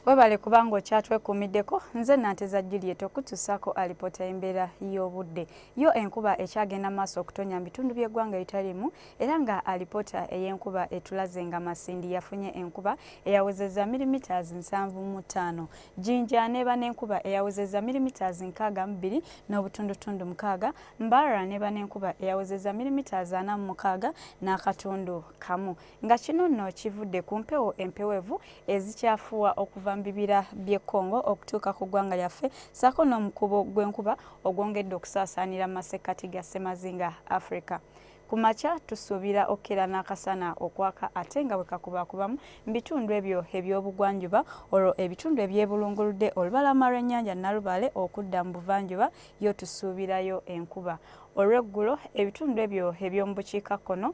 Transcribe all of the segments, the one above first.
Webale kubanga okyatwekuumiddeko. Nze Nanteza Juliet okutusaako alipoota y'embeera y'obudde. Yo enkuba ekyagenda maaso okutonya mu bitundu by'eggwanga ebitalimu era nga alipoota ey'enkuba etulaze nga Masindi yafunye enkuba eyawezeza milimitaazi nsanvu mu ttaano. Jinja neeba n'enkuba eyawezeza milimitaazi nkaaga mu bbiri n'obutundutundu mukaaga. Mbarara neeba n'enkuba eyawezeza milimitaazi ana mu mukaaga n'akatundu kamu. nga kino nno kivudde ku mpewo empewevu ezikyafuwa okuva mu bibira by'e Congo okutuuka ku ggwanga lyaffe ssaako n'omukubo gw'enkuba ogwongedde okusaasaanira mu masekkati ga ssemazinga Africa. Ku makya tusuubira okukeera n'akasana okwaka ate nga bwe kakubakubamu mu bitundu ebyo eby'obugwanjuba olwo ebitundu ebyebulunguludde olubalama lw'ennyanja Nalubaale okudda mu buvanjuba yo tusuubirayo enkuba. Olw'eggulo ebitundu ebyo eby'omu bukiikakkono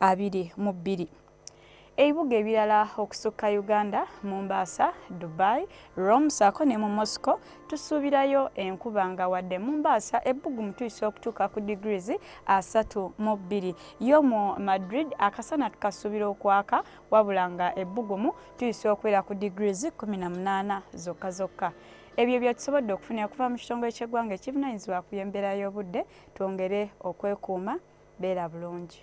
abiri mu bbiri. Ebibuga ebirala okusukka Uganda, Mombasa, Dubai, Rome saako ne mu Moscow tusuubirayo enkuba nga wadde Mombasa ebbugumu tuyisa okutuuka ku degrees asatu mu bbiri. Yo mu Madrid akasana tukasuubira okwaka wabula nga ebbugumu tuyisa okubeera ku degrees kumi na munaana zokka zokka. Ebyo bye tusobodde okufuna okuva mu kitongole ky'eggwanga ekivunanyizibwa ku by'embeera y'obudde twongere okwekuuma beera bulungi.